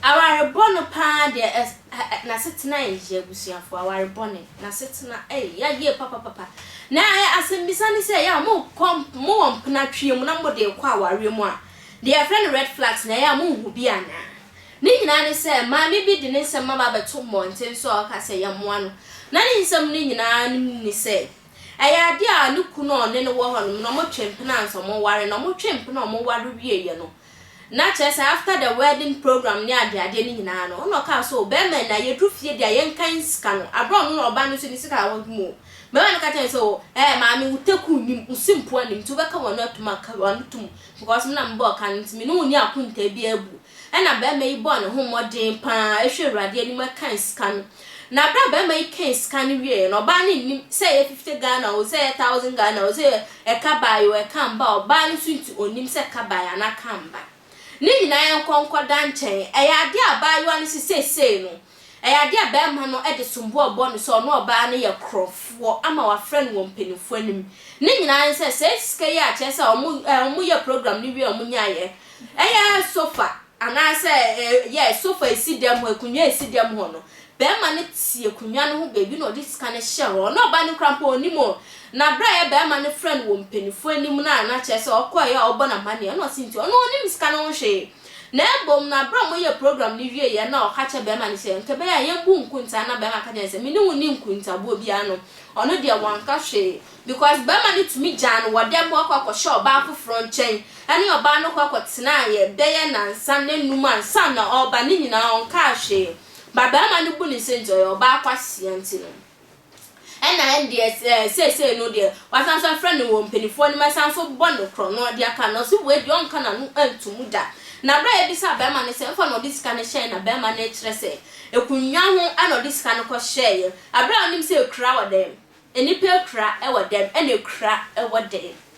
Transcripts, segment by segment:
Aware bɔno paa deɛ ɛs ɛ ɛ n'asetena yɛ yie abusuafoɔ aware bɔne n'asetena ei yɛ yie papapapa na ɛ asɛmbisa ne sɛ yɛ a mo kɔ mo wɔ mpena tweɛ mu na mo de rekɔ awareɛ mu a deɛ yɛfrɛ no red flags no ɛyɛ a mo nhu bi anaa. Ne nyinaa ne sɛ, maame bi de ne nsɛm aba abɛto mmɔnten so a ɔka sɛ yɛmmoa no, na ne nsɛm no nyinaa ne sɛ, ɛyɛ ade a ne kunu a ɔne no wɔ hɔnom no, wɔtwe mpena ansa wɔware, na wɔtwe mpena a wɔware wieeɛ no, na kyerɛ sɛ after the wedding programme ne adeadeɛ no nyinaa no, ɛna ɔkaa sɛ o, barima no na yɛduru fie deɛ a yɛnkan sika no, aberɛ a ɔno na ɔba no nso ne sika a ɔde mu o, barima no ka kyerɛɛ no sɛ o, ɛɛ maame wo taku nnim, wo simpoa nnim, nti wobɛka w'ano atom a, ka w'ano tom. Because me na mebɔɔ ka no nti, me ne wo nni akontaa biara bu. Ɛnna barima yi bɔɔ ne ho mmɔden pa ara hwɛɛ Awurade anim kan sika no. Na berɛ a barima yi kan sika no wieeɛ no, ɔbaa no nnim sɛ ɛyɛ fifty Ghana oo, sɛ ɛyɛ thousand Ghana oo, sɛ ɛka baeɛ oo, ɛka mbaeɛ oo, ɔbaa no nso nti ɔnnim sɛ ɛka baeɛ anaa ɛka mba. Ne nyinaa yɛnkɔ nkɔda nkyɛn. Ɛyɛ adeɛ a abaayewa no hyɛ seesei no, Ɛyɛ adeɛ a barima no de som bo rebɔ no sɛ ɔne ɔbaa no yɛ korɔfoɔ ama wɔafrɛ no wɔ mpanimfoɔ anim. Ne nyinaa ne sɛ, saa sika yi a kyerɛ sɛ wɔn wɔyɛɛ program no wie a wɔnyaeɛ, ɛyɛ sofa anaasɛ yɛ sofa a ɛsi dɛm hɔ, akonnwa a ɛsi dɛm hɔ no, barima no te akonnwa no ho baabi na ɔde sika no hyɛ hɔ. Ɔne ɔbaa no koraa mpo ɔnnim o. Na berɛ a ɛyɛ barima no frɛ no wɔ mpanimfoɔ anim no a na kyerɛ sɛ ɔkɔeɛ a wɔbɔ no amanneɛ na ɔse nti ɔno ɔnnim sika no ho hwee. Na mbom no aber a wɔyɛɛ program no wieeɛ no na ɔka kyerɛɛ bɛrima no sɛ, Nka bɛyɛ a yɛmmbu nkuntsaa na bɛrima ka kyerɛɛ no sɛ, Menye wo nnyi nkuntsaboɔ biara no, ɔno deɛ wɔanka hwee. Because bɛrima no tumi gyaa no wɔ dɛm hɔ kɔ akɔhyɛ ɔbaa foforɔ nkyɛn. Ɛne ɔbaa no kɔ akɔtenaeɛ bɛyɛ nansa na nnum ansa na ɔreba, ne nyinaa ɔnkaa hwee. But bɛrima no bu no sɛ nti ɔyɛ ɔbaa kwasia nti no. Ɛna ɛndeɛ sɛ seesei no deɛ wasan nso afrɛ no wɔ mpaninfoɔ anim asan nso bɔ no korɔno de aka no, ɔse wei deɛ ɔnka n'ano nto mu da. Na berɛ a yɛbisaa barima no sɛ ɛmfa na ɔde sika no hyɛeɛ na barima no rekyerɛ sɛ akunwa ho na ɔde sika no kɔhyɛeɛ, aberɛ a ɔnim sɛ akura wɔ dɛm, nnipa akura wɔ dɛm, ɛna akura wɔ dɛm.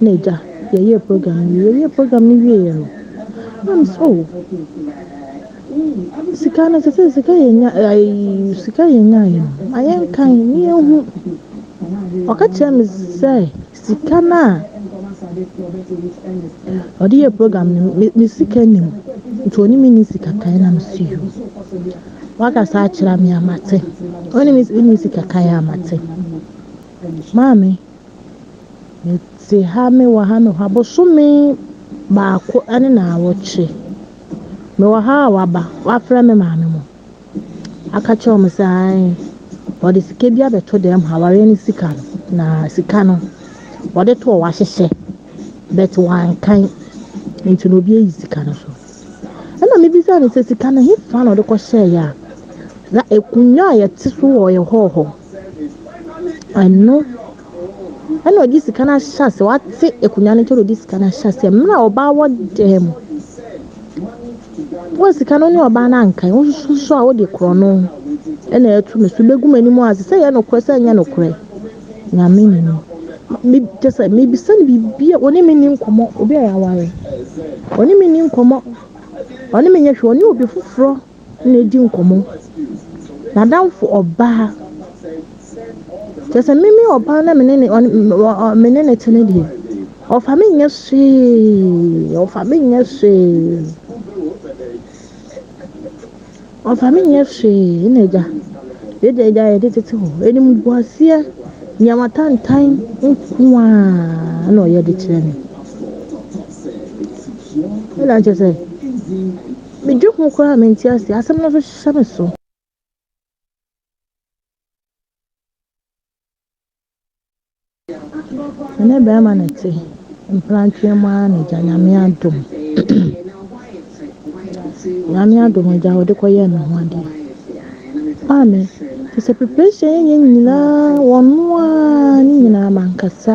na agya yɛyɛɛ program no wie yɛyɛɛ program no wieeɛ no na me sɛ oh sika no sɛ sɛ sika yɛnya ayi sika yɛnyaeɛ no ma yɛnkan ne yɛnhu ɔka kyerɛ me sɛ sika no a ɔde yɛ program no me me sika nim nti ɔne me ne sika kan na me si yo wakasa akyerɛ me amate ɔne me ne sika kan amate maame Mete ha, mewɔ ha, mewɔ ha bosome baako ne naawɔtwe. Mewɔ ha a waba, wafrɛ me maame mo. Aka kyerɛ wɔn sɛ ae, wɔde sika bi abɛto dɛm ha, awareɛ ne sika no. Na sika no, wɔde toɔ wahyehyɛ, but wankan. Nti na obi ayi sika no so. Ɛna mebisa no sɛ sika no hefa na ɔde kɔhyɛeɛ a? Na akonnwa a yɛte so wɔ yɛ hɔɔ hɔ. Ɛno ɛna ɔde sika no ahyɛ ase wate akonnwa no nkyɛn na ɔde sika no ahyɛ ase mmerɛ a ɔbaa wɔ dan mu wo sika no ne ɔbaa no ankan wososo a wode korɔ no ɛna ɛtu me so bɛgu m'anim a sɛ yɛ nokorɛ sɛ nyɛ nokorɛ nyame ne ni me kyɛ sɛ mebisa no biribi a ɔne me ni nkɔmmɔ obi a yɛaware ɔne me ni nkɔmmɔ ɔne me nyɛ hwɛ ɔne obi foforɔ na edi nkɔmmɔ. N'adamfo ɔbaa, kyerɛ sɛ me me ɔbaa na me ne ne ɔne me ne ne te no deɛ, ɔfa me nyɛ hwee, ɔfa me nyɛ hwee, ɔfa me nyɛ hwee na agya. Yɛde agya yɛde tete hɔ, ɛnim bu aseɛ, nneɛma tantan nko ara na ɔyɛ de kyerɛ me. Ɛna kyerɛ sɛ. Me dwen ho koraa me nte aseɛ asɛm no nso hyɛ me so. ɛnɛ bɛrima na te mprantweɛ mu ara na gya nyame adom nyame adom gya wɔde kɔyɛ me ho adeɛ maame te sɛ preparation yɛnyɛ nyinaa wɔno a ne nyinaa mankasa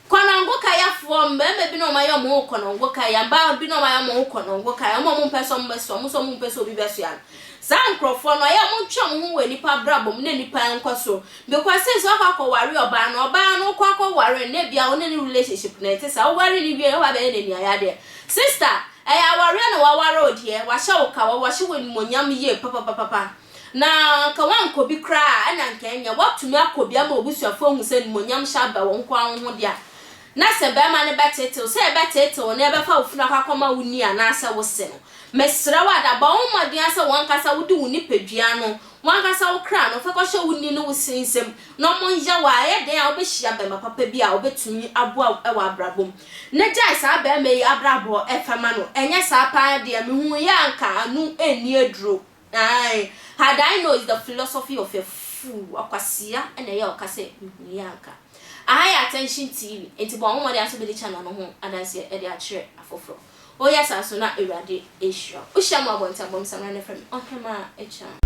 Kɔnɔngo kayafoɔ, mmarima bi na wɔn ayɛ wɔn ho kɔnɔngo kaya, mmaa bi na wɔn ayɛ wɔn ho kɔnɔngo kaya, wɔn a wɔmpɛ sɛ wɔbɛsoa, wɔn nso a wɔmpɛ sɛ obi bɛsoa no. Saa nkorɔfoɔ no, ɔyɛ a montwe mo ho wɔ nnipa abrabɔ mu na nnipa nkɔ soro. Because seesei woakɔ akɔware ɔbaa no, ɔbaa no wokɔ akɔware no na ebia wo ne no relationship no nte saa, woware no wie no woaba abɛyɛ n'ani ayadeɛ. Sister, ɛyɛ awareɛ na woaware wo deɛ, wɔahyɛ wo kawa, wɔahyɛ wo animuonyam yie papapapapa. Na anka wɔankɔ bi koraa a, ɛna anka ɛnyɛ. Wɔatumi akɔ bi ama w'abusuafoɔ ahu sɛ animuonyam hyɛ aba wɔn nkoa wo ho de a, na sɛ barima no bɛteete wo, sɛ yɛbɛteete wo na yɛbɛfa wo funu akɔ akɔma wo nua anaasɛ wo se no. Mesrɛ wo ada, bɔ wo mmɔden ara sɛ w'ankasa wode wo nipadua no, w'ankasa wo kra no, fɛkɔhyɛ wo ni ne wo sere nsam na monyɛ wo a, ɛyɛ dɛn a wobɛhyia barima papa bi a ɔbɛtumi aboa wo wɔ abrabɔ mu. Na gyae saa barima yi abrabɔ fɛ ma no, ɛnyɛ saa paa deɛ, mehuuiɛ a anka ano nni aduro. Ae, had I know is the philosophy of a fool, ɔkwasea na ɛyɛ a ɔka sɛ mehunuiɛ a anka I had attention TV, enti bɔ wo mmɔden ara sɛ wobɛdi channel no ho adanseɛ de akyerɛ afoforɔ. Woyɛ saa nso na Awurade rehyira wo. Wohyia me wɔ abɔnten a, bɔ me samina na frɛ me Ɔhemaa Agya.